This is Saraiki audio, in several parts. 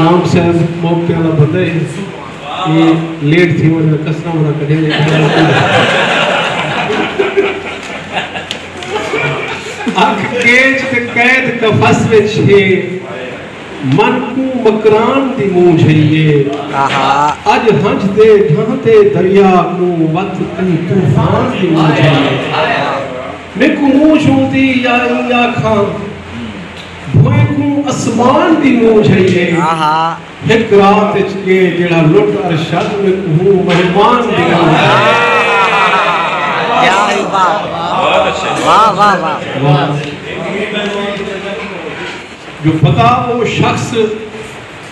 نام صاحب موقع والا بندہ ہے اے لیٹ تھی ونجے دا کسرا منا کڈھے دے کھڑا ہے اکھ کیچ تے قید قفس وچ ہے من کو مکران دی مونجھ ہے اج ہنج دے ڈھانتے دریا کو وت کی طوفان دی مونجھ ہے میکو مونجھ ہوندی یا یا کھان بھوئیں کوں اسمان دی مونجھ ہئی ہے ہک رات اچ کے جیڑھا لٹ ارشد میں کوہوں مہمان دی مونجھ ہئی ہے جو پتا او شخص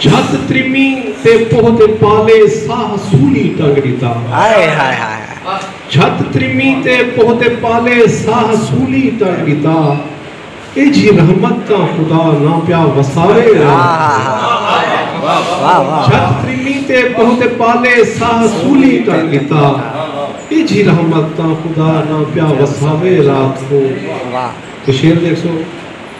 جھت ترمی تے پوہ دے پالے ساہ سولی ٹنگ ڈتا۔ جھت ترمی تے پوہ دے پالے ساہ سولی ٹنگ ڈتا۔ ایجھی رحمت تاں خدا نہ پیا وسارے او۔ جھت ترمی تے پوہ دے پالے ساہ سولی ٹنگ ڈتا۔ ایجھی رحمت تاں خدا نہ پیا وساوے رات کوں۔ شعر دیکھ سو۔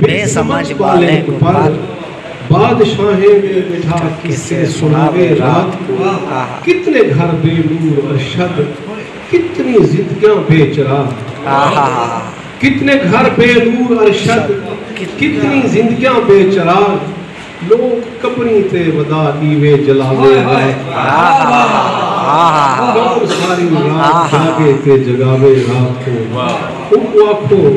بے سمجھ ٻالیں کوں پر بادشاہیں دے ٻٹھا قصے سݨاوے رات کوں آہا۔ کتنے گھر بے نور ارشد کتنی زندگیاں بے چراغ آہا۔ کتنے گھر بے نور ارشد کتنی زندگیاں بے چراغ لوک قبریں تے ودا ݙیوے جلاوے رات کوں آہا۔ کون ساری رات جاڳے تے جڳاوے رات کوں اوں کوں آکھو۔